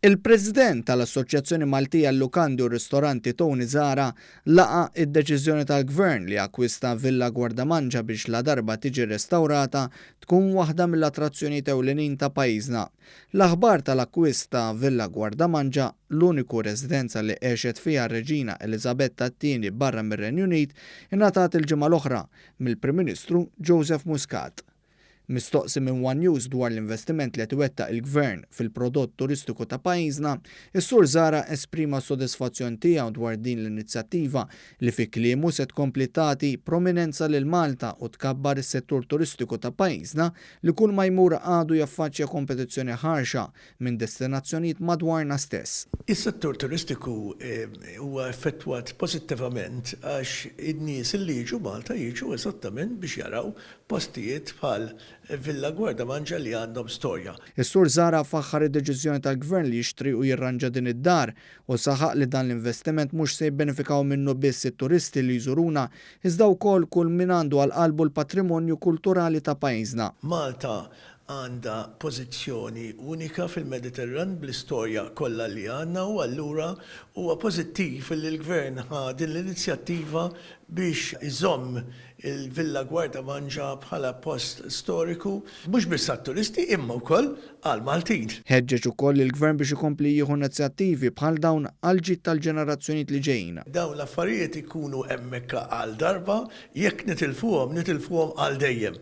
Il-President tal-Assoċjazzjoni Maltija għal-Lukandi u r-Ristoranti Tony Zahra laqa' id-deċiżjoni tal-Gvern li akkwista Villa Guardamangia biex ladarba tiġi rrestawrata tkun waħda mill-attrazzjonijiet ewlenin ta' pajjiżna. L-aħbar tal-akkwist ta' Villa Guardamangia, l-uniku residenza li għexet fiha r-Reġina Eliżabetta t-Tieni barra mir-Renju Unit, ingħatat il-ġimgħa l-oħra, mill-Prim Ministru Joseph Muscat. Mistoqsi minn one News dwar l-investiment li qed iwettaq il-Gvern fil-prodott turistiku ta' pajjiżna, is-Sur Zahra esprima s-sodisfazzjon tiegħu dwar din l-inizjattiva li fi kliemu se tkompli tagħti prominenza lil Malta u tkabbar is-settur turistiku ta' pajjiżna li kull ma jmur għadu jaffaċċja kompetizzjoni ħarxa minn destinazzjonijiet madwarna stess. Is-settur turistiku huwa effettwat pożittivament għax in-nies li jiġu Malta jiġu eżattament biex jaraw postijiet bħal Villa Guardamangia li għandhom storja. Is-Sur Zahra faħħar id-deċiżjoni tal-Gvern li jixtri u jirranġa din id-dar u saħaq li dan l-investiment mhux se jibbenefikaw minnu biss it-turisti li jżuruna iżda wkoll kull min għandu għal qalbu l-patrimonju kulturali ta' pajjiżna. Malta għandha pożizzjoni unika fil-Mediterran bl-istorja kollha li għandna u allura huwa pożittiv li l-Gvern ħa din l-inizjattiva biex iżomm il-Villa Guarda Mangia bħala post storiku mhux biss għat-turisti imma wkoll għall-Maltin. Ħeġġeġ ukoll lill-Gvern biex ikompli jieħu inizjattivi bħal dawn għall-ġid tal-ġenerazzjonijiet li ġejjin. Dawn l-affarijiet ikunu hemmhekk għal darba, jekk nitilfuhom, nitilfuhom għal dejjem.